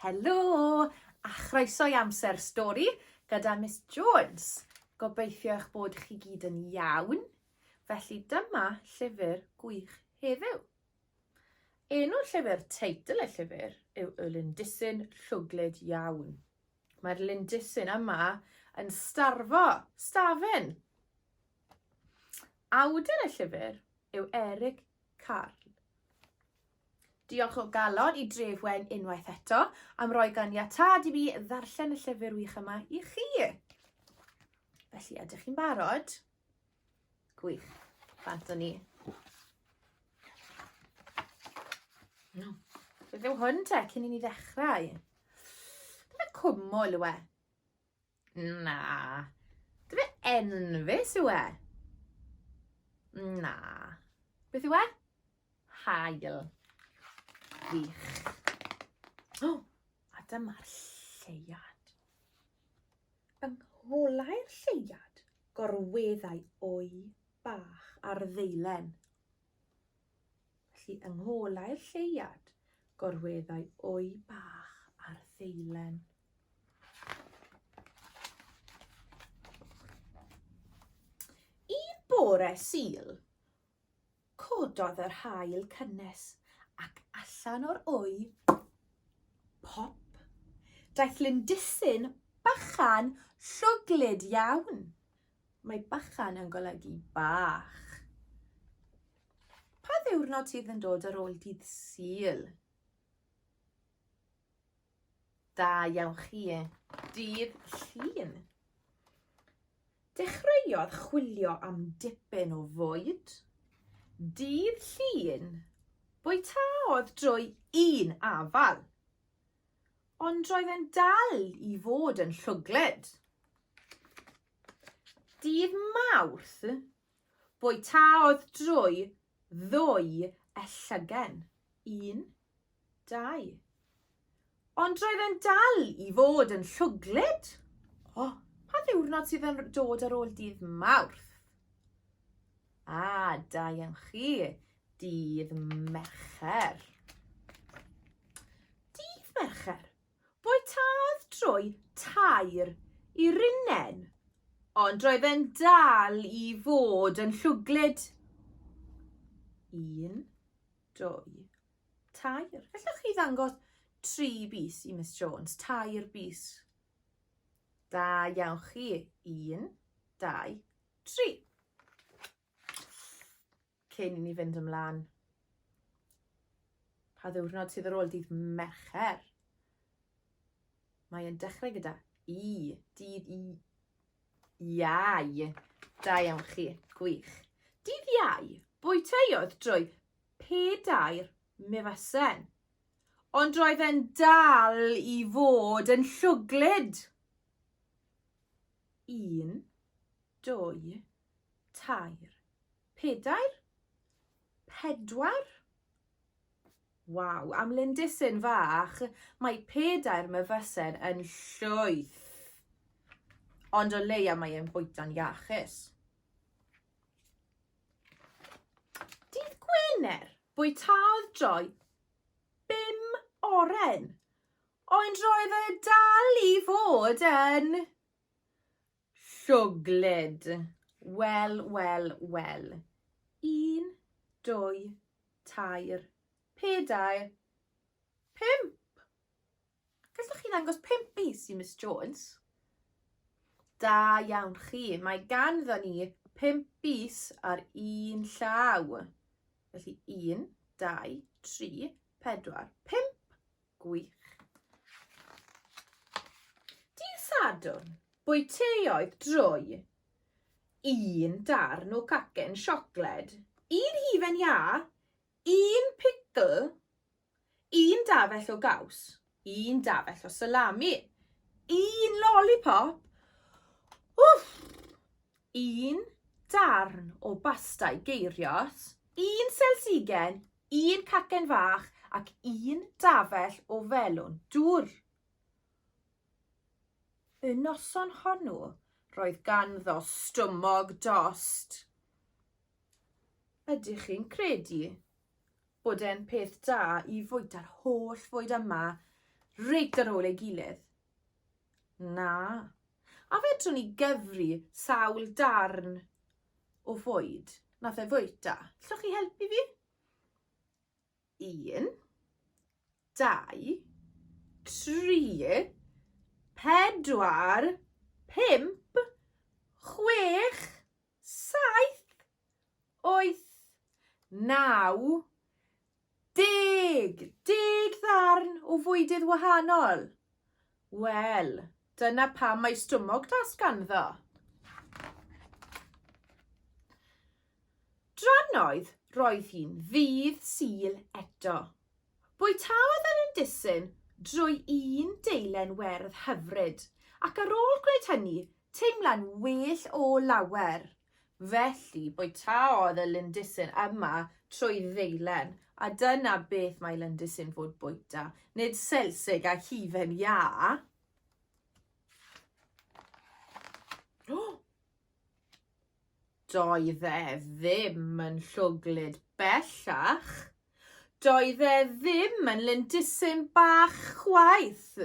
Helo, a chroeso i Amser Stori gyda Miss Jones. Gobeithio eich bod chi gyd yn iawn. Felly dyma llyfr gwych heddiw. Enw'r llyfr, teitl y llyfr, yw Y Lindisyn Llwglyd Iawn. Mae'r lindisyn yma yn starfo, stafen. Awdur y llyfr yw Eric Carl. Diolch o galon i Dref Wen unwaith eto am roi ganiatâd i mi ddarllen y llyfr wych yma i chi. Felly, ydych chi'n barod? Gwych. Bant o ni. No. Beth yw hwn te, cyn i ni ddechrau? Dyna cwmwl yw e. Na. Dwi e enfys yw e? Na. Beth yw e? Hael. Wych. O, oh, a dyma'r lleiad. Yng ngholau'r lleiad, gorweddau o'i bach ar ddeilen. Felly, yng ngolau'r lleuad, gorweddai wy bach ar ddeilen. Un bore Sul, cododd yr haul cynnes ac allan o'r wy, pop, daeth lindisyn bachan llwglyd iawn. Mae bychan yn golygu bach. Pa ddiwrnod sydd yn dod ar ôl dydd Sul? Da iawn chi. Dydd Llun. Dechreuodd chwilio am dipyn o fwyd. Dydd Llun, bwytaodd drwy un afal. Ond roedd e'n dal i fod yn llwglyd. Dydd Mawrth, bwytaodd drwy ddwy e llygen. Un, dau. Ond roedd e'n dal i fod yn llwglyd. O, oh, pa ddiwrnod sydd yn dod ar ôl dydd Mawrth? A, ah, da iawn chi, dydd Mercher. Dydd Mercher. Bwytaodd drwy tair i Runen. Ond roedd e'n dal i fod yn llwglyd. Un, dwy, tair. Felly chi ddangos tri bus i Miss Jones, tair bus. Da iawn chi. Un, dau, tri. Cyn i ni fynd ymlaen, pa ddiwrnod sydd ar ôl dydd Mercher? Mae e'n dechrau gyda i, dydd i, iau. Da iawn chi, gwych. Dydd iau, bwyteiodd drwy pedair mifasen. Ond roedd e'n dal i fod yn llwglyd. Un, dwy, tair, Pedair? Pedwar? Waw, am lindisyn fach, mae pedair myfysen yn llwyth. Ond o leia mae e'n bwyta'n iachus. Dydd Gwener, bwytaodd Joy bum oren. Ond roedd e dal i fod yn Llwglyd. Wel, wel, wel. Un, dwy, tair, pedair, pump! Gallwch chi ddangos pump bys i Miss Jones? Da iawn chi. Mae ganddo ni pump bys ar un llaw. Felly un, dau, tri, pedwar, pump. Gwych. Dydd Sadwrn, bwyteiodd drwy un darn o cacen siocled, un hufen iâ, un picl, un dafell o gaws, un dafell o salami, un lollipop, wff, un darn o bastau geirios, un selsigen, Un cacen fach ac un dafell o felwn dwr. Y noson honw roedd ganddo stumog dost. Ydych chi'n credu bod e'n peth da i fwyta'r holl fwyd yma reit ar ôl ei gilydd? Na. A fedrwn ni gyfri sawl darn o fwyd nath e fwyta? Llwch chi helpu fi? Un, dau, tri, pedwar, pump, chwech, Saith, wyth, naw, deg, deg ddarn o fwydydd wahanol. Wel, dyna pam mae stwmog das ganddo. Drannoedd roedd hi'n ddydd sul eto. Bwytaodd yr indisyn drwy un deilen werdd hyfryd, ac ar ôl gwneud hynny, Teimlai'n well o lawer. Felly, bwytaodd y lindysyn yma trwy ddeilen, a dyna beth mae lindysyn fod bwyta, nid selsig a hufen iâ. Doedd e ddim yn llwglyd bellach. Doedd e ddim yn lindysyn bach chwaith.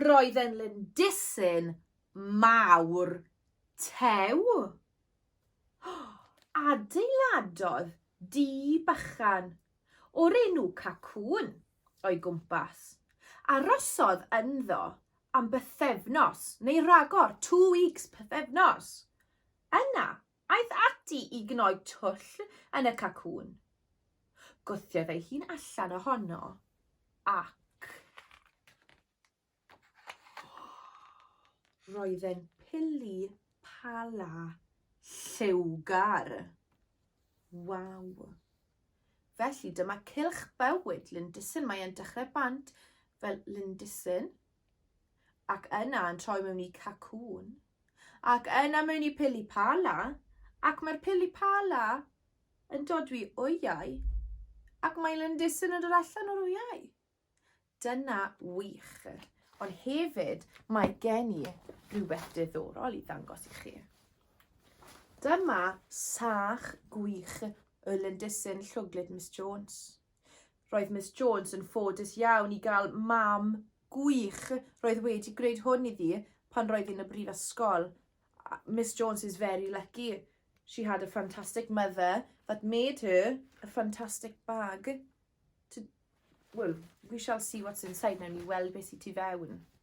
Roedd e'n lindisyn mawr tew. Adeiladodd dŷ bychan o'r enw Cacŵn o'i gwmpas. Arosodd ynddo am bythefnos, neu ragor, two weeks, pythefnos. Yna, Aeth ati i gnoi twll yn y cacŵn. Gwthiodd ei hun allan ohono ac... Roedd e'n pili pala lliwgar. Waw! Felly dyma cylch bywyd Lindisyn. Mae e'n dechrau bant fel Lindisyn. ac yna yn troi mewn i cacŵn, ac yna mewn i pilipala, ac mae'r pilipala yn dod i wyau, ac mae Lindisyn yn dod allan o'r wyau. Dyna wych. Ond hefyd, mae gen i rhywbeth diddorol i ddangos i chi. Dyma sach gwych y Lindisyn Llwglyd Miss Jones. Roedd Miss Jones yn ffodus iawn i gael mam gwych. Roedd wedi gwneud hwn iddi pan roedd yn y brifysgol. Miss Jones is very lucky. She had a fantastic mother that made her a fantastic bag. To, well, we shall see what's inside. Nawr ni weld beth sy'n tu fewn.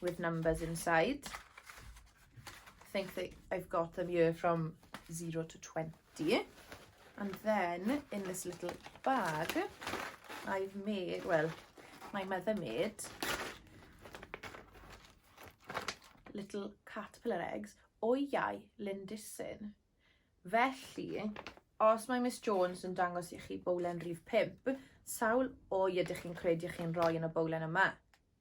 with numbers inside. I think that I've got them here from 0 to 20. And then in this little bag, I've made, well, my mother made little caterpillar eggs o iau lindisyn. Felly, os mae Miss Jones yn dangos i chi bowlen rhif 5, sawl o'i ydych chi'n credu chi'n rhoi yn y bowlen yma?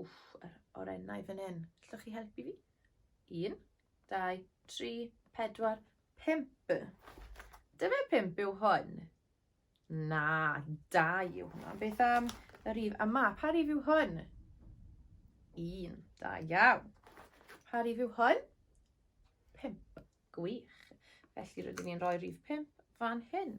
Wff, yr orennau fan hyn. Allwch chi helpu fi? Un, dau, tri, pedwar, pimp. Dyma pimp yw hwn. Na, dau yw hwnna. Beth am y rif yma? Pa rif yw hwn? Un, da iawn. Pa rif yw hwn? Pimp. Gwych. Felly rydyn ni'n rhoi rif pimp fan hyn.